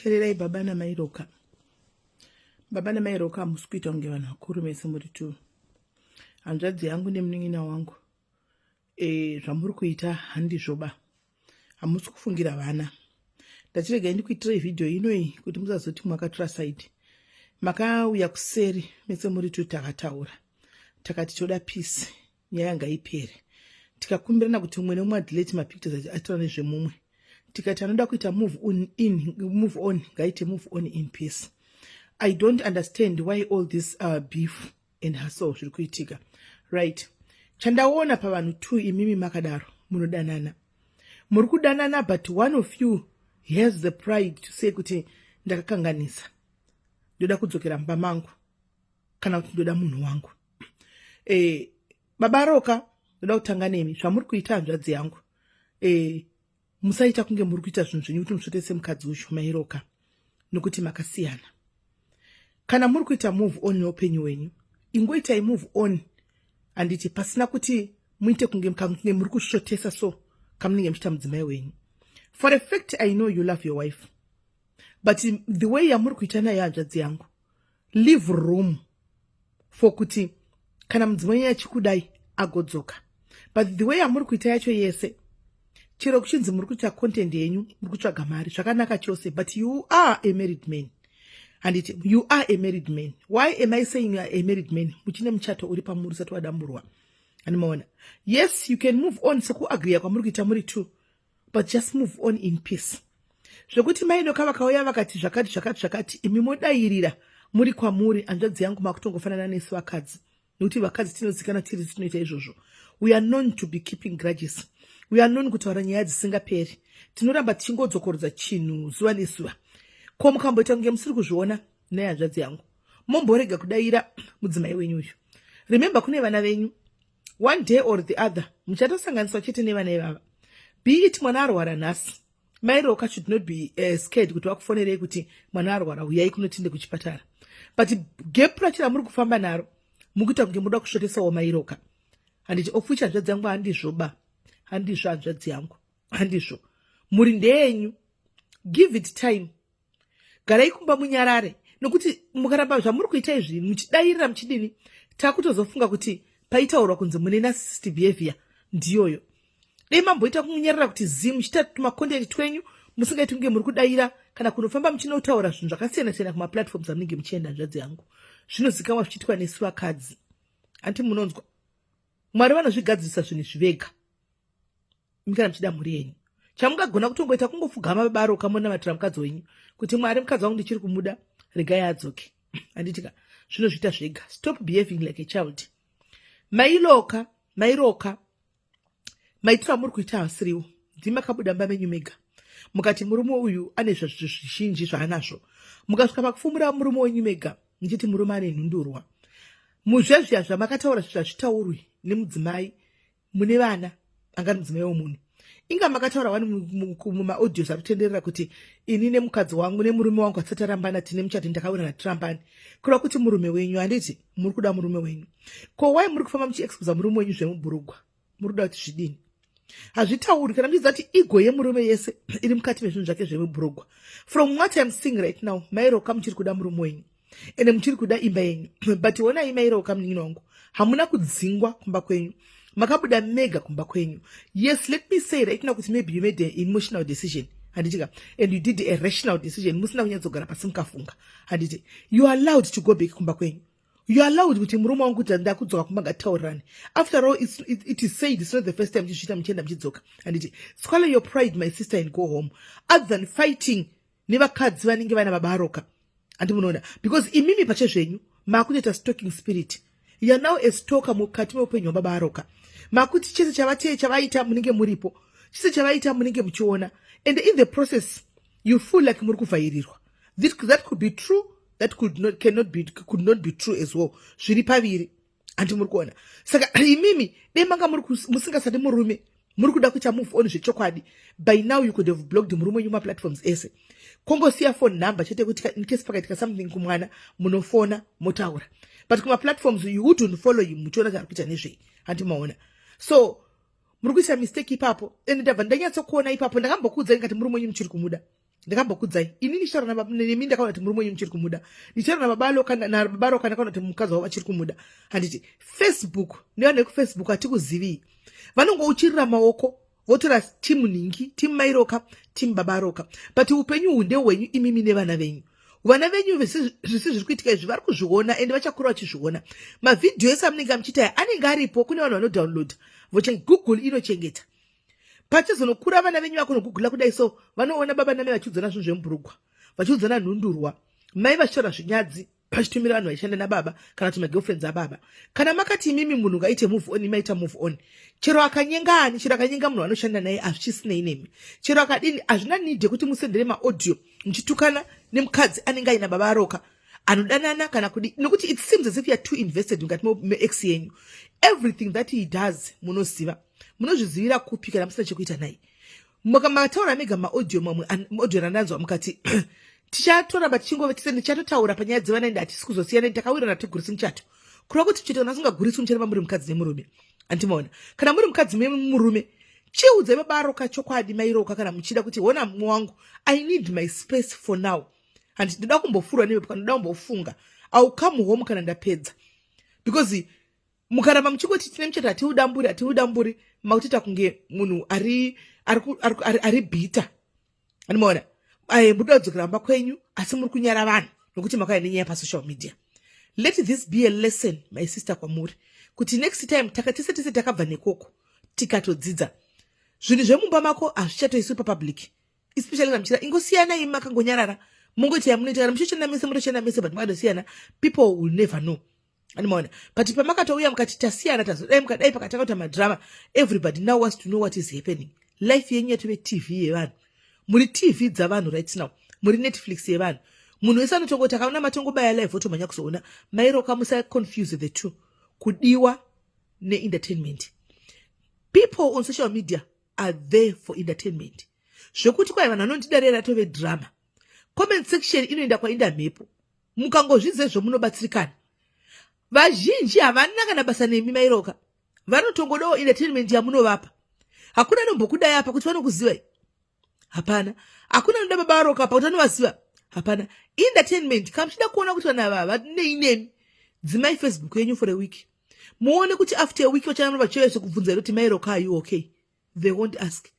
teererai baba namai roka baba namai roka hamusi kuita kunge vanhu vakuru mese muri tu hanzvadzi yangu nemunin'ina wangu e, zvamuri kuita handizvoba hamusi kufungira vana ndachiregai ndikuitirai vhidhiyo inoyi kuti musazoti mwakatura saidi makauya kuseri mese muri tu takataura takati toda pisi nyaya ngaipere tikakumbirana kuti umwe neumwe adelete mapictures ati atora nezvemumwe tikati anoda kuita move on in move on ngaite move on in peace i don't understand why all this uh, beef and hustle zviri kuitika right chandaona pavanhu two imimi makadaro munodanana muri kudanana but one of you has the pride to say kuti ndakakanganisa ndoda kudzokera mumba mangu kana kuti ndoda munhu wangu e, baba roka ndoda kutanga nemi zvamuri kuita hanzvadzi yangu e, musaita kunge muri kuita zvinhu zvenyu kuti musvote semukadzi ucho mairoka nokuti makasiyana kana muri kuita move on neupenyu wenyu ingoitai move on handiti pasina kuti muite kunge mukange muri kusvotesa so kamunenge muchiita mudzimai wenyu for effect i know you love your wife but the way yamuri kuita nayo hanzvadzi yangu leave room for kuti kana mudzimai achikudai agodzoka but the way yamuri kuita yacho yese chero kuchinzi muri kuita content yenyu muri kutsvaga mari zvakanaka chose but you are a married man handiti you are a married man why am i saying you are a married man muchine muchato uri pamuri usati wadamburwa andimaona yes you can move on sekuagriya kwamuri kuita muri two but just move on in peace zvekuti mainoka vakauya vakati zvakati zvakati zvakati imi modairira muri kwamuri hanzvadzi yangu makutongofanana nesu vakadzi nekuti vakadzi tinozikana tiri tinoita izvozvo we are known to be keeping grudges we are known kutaura nyaya dzisingaperi tinoramba tichingodzokorodza chinhu zuva nezuva ko mukamboita kunge musiri kuzviona nehanzvadzi yangu momborega kudaira mudzimai wenyu uyu remember kune vana venyu one day or the other muchatosanganiswa chete nevana ivava be it mwana arwara nhasi mai roka should not be uh, eh, scared kuti vakufonerei kuti mwana arwara huyai kunotinde kuchipatara but gap racho ramuri kufamba naro mukuita kunge muda kusvotesawo mai roka handiti ofuchi hanzvadzi yangu handizvo ba handizvo hanzvadzi yangu handizvo mhuri ndeyenyu give it time garai kumba munyarare nokuti mukaramba zvamuri kuita izvi muchidairira muchidini takutozofunga kuti paitaurwa kunzi mune narcissistic behavior ndiyoyo dei mamboita kunyarara kuti zi muchiita tumakontenti twenyu musingaiti kunge muri kudaira kana kunofamba muchinotaura zvinhu zvakasiyana siyana kumaplatforms amunenge muchienda nzvadzi yangu zvinozikamwa zvichiitwa nesu vakadzi hanti munonzwa mwari vanozvigadzirisa zvinhu zvivega imi kana muchida mhuri yenyu chamungagona kutongoita kungopfugama babaro kamonamatira mukadzi wenyu kuti mwari mukadzi wangu ndichiri kumuda regai adzoke handitika zvinozviita zvega stop behaving like a child mailoka mairoka maitiro amuri kuita hasiriwo ndimakabuda mba menyu mega mukati murume uyu ane zvazvizvo zvizhinji zvaanazvo mukasvika pakufumura murume wenyu mega ndichiti murume ane nhundurwa muzvezviya zvamakataura zvazvitaurwi nemudzimai mune vana angari mudzimai womunhu inga makataura wani mumaaudios ari kutenderera kuti ini nemukadzi wangu nemurume wangu atisati arambana tine muchati ndakawirana tirambani kureva kuti murume wenyu handiti muri kuda murume wenyu ko wai muri kufamba muchiexposa murume wenyu zvemubhurugwa muri kuda kuti zvidini hazvitauri kana muchiziva kuti igo yemurume yese iri mukati mezvinhu zvake zvemubhurugwa from what im seeing right now mairoka muchiri kuda murume wenyu ende muchiri kuda imba yenyu but honai mairowo kamunin'ina wangu hamuna kudzingwa kumba kwenyu makabuda mega kumba kwenyu yes let me say right now kuti maybe you made an emotional decision handiti ka and you did a rational decision musina kunyatsogara pasi mukafunga handiti you are allowed to go back kumba kwenyu you are allowed kuti murume wangu kuti ndakudzoka kumba ngataurirani after all it's, it, it is said it's not the first time muchizviita muchienda muchidzoka handiti swallow your pride my sister and go home other than fighting nevakadzi vanenge vaina babaroka handi munoona because imimi pache zvenyu makutoita stalking spirit youare now a stalker mukati meupenyu hwababaroka makuti chese chavatiye chavaita munenge muripo chese chavaita munenge muchiona and in the process you feel like muri kuvhairirwa that could be true that could not, cannot be, could not be true as well zviri paviri handi muri kuona saka imimi dei manga muri musingasati murume muri kuda kuita move on zvechokwadi by now you could have blocked murume wenyu maplatforms ese kongosiya phone number chete kuti incase pakaitika something kumwana munofona motaura but kumaplatforms you wouldn't follow him muchiona kuti ari kuita nezvei handi maona so muri kuisa mistake ipapo and ndabva ndanyatsokuona ipapo ndakambokuudzai ngati murume wenyu muchiri kumuda ndakambokudzai ini ndichitaura nababa nemi ndakaona kuti murume wenyu muchiri kumuda ndichitaura nababa loka nababa roka ndakaona kuti mukadzi wavo vachiri kumuda handiti facebook nevanhu vekufacebook hatikuzivi vanongouchirira maoko votora timu nhingi timu mairoka timu baba roka but upenyu hunde hwenyu imimi nevana venyu vana venyu zvisi zviri kuitika izvi vari kuzviona ende vachakura vachizviona mavhidhiyo ese amunenge amuchiitaya anenge aripo kune vanhu vanodownload vochengoogle inochengeta pachizonokura vana venyu vakonogugula kudai so vanoona baba name vachiudzana zvinhu zvemburugwa vachiudzana nhundurwa mai vachitaura zvinyadzi pachitumira vanhu vaishanda nababa kana kuti magirlfriends ababa kana makati imimi munhu ngaite move on imaita move on chero akanyenga ani chero akanyenga munhu anoshanda naye hazvichisinei nemi chero akadini hazvina need yekuti musendere maaudio muchitukana nemukadzi anenge aina baba aroka anodanana kana kudi nokuti it seems as if youare too invested mukati meex yenyu everything that he does munoziva munozvizivira kupi kana musina chekuita naye mataura mega maaudio mamwe audio randanzwa mukati tichatoramba tichingove tise ndichatotaura panyaya dzevana ende hatisi kuzosiyana ndi takawirana tigurisi muchato kureva kuti chito kana asingaguriswi muchareva muri mukadzi nemurume andimaona kana muri mukadzi memurume chiudze vabaro kachokwadi mairoka kana muchida kuti hona mumwe wangu i need my space for now handi ndida kumbofurwa nevepo kana ndoda kumbofunga iwill come home kana ndapedza because mukaramba muchingoti tine muchato hatiudamburi hatiudamburi makutoita kunge munhu ari ari bhita andimaona aye muri kudzokera mumba kwenyu asi muri kunyara vanhu nokuti makauya nenyaya pasocial media let this be a lesson my sister kwamuri kuti next time takatese tese takabva nekoko tikatodzidza zvinhu zvemumba mako hazvichatoiswi papublic especially namuchira ingosiyanai makangonyarara mongoita yamunoita kana muchichenamese motochenamese but makatosiyana people will never know andimaona but pamakatouya mukati tasiyana tazodai mukadai pakatanga kuita madrama everybody now wants to know what is happening life yenyu yatove tv yevanhu muri tv dzavanhu right now muri netflix yevanhu munhu wese anotongoti akaona matongobaya live otomhanya kuzoona mairoka musaconfuse the two kudiwa neentertainment people on social media are there for entertainment zvekuti kwai vanhu vanondida rera tove drama comment section inoenda kwainda mhepo mukangozvidza izvo munobatsirikana vazhinji havana kana basa nemi mairoka vanotongodawo entertainment yamunovapa hakuna anombokudai apa kuti vanokuzivai hapana hakuna anoda baba varoka apa kuti anovaziva hapana entertainment kana muchida kuona kuti vanhu ava vanei nemi dzimai facebook yenyu for a week muone kuti after a week vachananova chaive sekubvunza iro kuti mairoka ayu okay they won't ask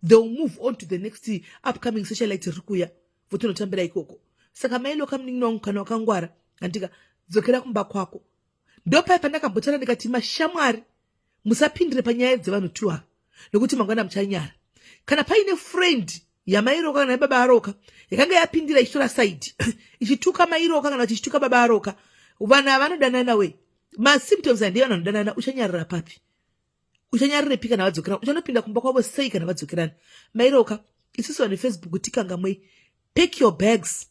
they will move on to the next upcoming socialite riri kuya votonotambira ikoko saka mailo kamunin'ina wangu kana wakangwara handika dzokera kumba kwako ndopai pandakambotana ndikati mashamwari musapindire panyaya dzevanhu two ava nokuti mangwana muchanyara kana paine friend yamairoka kana yababa aroka yakanga yapindira ichitora saidi ichituka mairoka kana kuti ichituka baba aroka vanhu avanodanana we masymptoms handei vanhu vanodanana uchanyarira papi uchanyarirepi kana vadzokera uchanopinda kumba kwavo sei kana vadzokerana mairoka isusu vane facebook tikangamwei pack your bags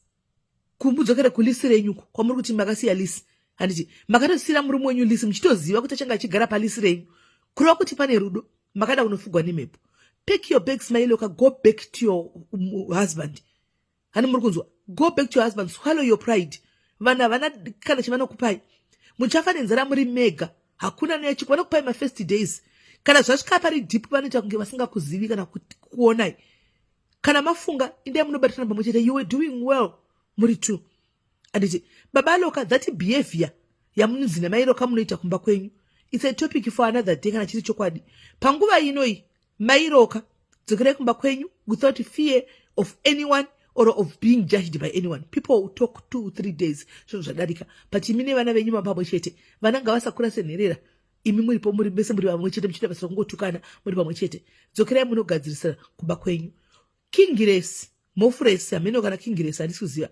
kumudzokere kulisi renyuko kwamuri kuti makasiya lisi handiti makatosiyira murume wenyu lisi muchitoziva kuti achanga achigara palisi renyu kureva kuti pane rudo makada kunofugwa nemhepo pack your bags mailoka go back to your um, husband hani muri kunzwa go back to your husband swallow your pride vanhu havana kana chavanokupai muchafa nenzara muri mega hakuna neyachipo vanokupai mafirst days kana zvasvika pari deep vanoita kunge vasingakuzivi kana kuonai kana mafunga indai munobatirana pamwe chete you were doing well muri two anditi baba loka that behavior yamunonzi namai loka munoita kumba kwenyu its a topic for another day kana chiri chokwadi panguva inoyi Mai Roka, dzokerai kumba kwenyu without fear of anyone or of being judged by anyone people talk two three days zvinhu zvadarika but imi nevana venyu mapamwe chete vana ngavasakura senherera imi muripo muri mese muri vamwe chete muchiita basa rokungotukana muri pamwe chete dzokerai munogadzirisira kumba kwenyu kingiresi mofuresi hameno kana kingiresi handisi kuziva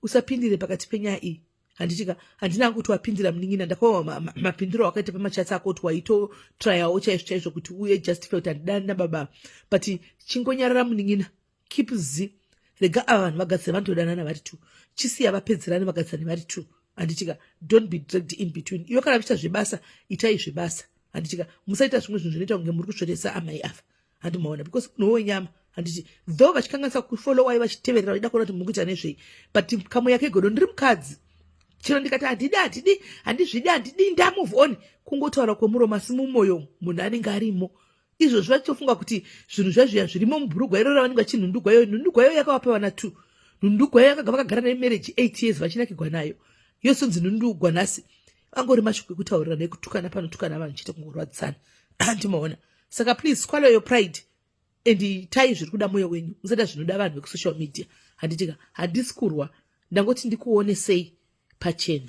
usapindire pakati penyaya iyi handitika handina kuti wapindira munin'ina ndakawa mapindiro wakaita pamachatsi ako kuti waitotrayawo chaizvo chaizvo kuti uye just felt handidani nababa but chingonyarara munin'ina keep z rega ava vanhu vagadzira vanotodanana vari two chisiya vapedzerane vagadzirane vari two handitika don't be dragged in between iwe kana vichita zvebasa itai zvebasa handitika musaita zvimwe zvinhu zvinoita kunge muri kusveresa amai ava handi maona because munhu wenyama handiti though vachikanganisa kufolowai vachiteverera vaida kuona kuti mukuita nezvei but kamwe yake godo ndiri mukadzi chero ndikati handidi handidi handizvidi handidi ndamove on kungotaura kwemuromo asi mumoyo munhu anenge arimo izvozvi vachitofunga kuti zvinhu zvazviya zvirimo mubhurugwa iro ravanenge vachinhundugwa iyo nhundugwa iyo yakavapewa na two nhundugwa iyo yakaga vakagara nayo marriage eight years vachinakigwa nayo yosonzi nhundugwa nhasi angori mashoko ekutaurira nekutukana panotukana vanhu chete kungorwadzisana andimaona saka please swallow your pride and itai zviri kuda mwoyo wenyu musaita zvinoda vanhu vekusocial media handitika handisi kurwa ndangoti ndikuone sei pachena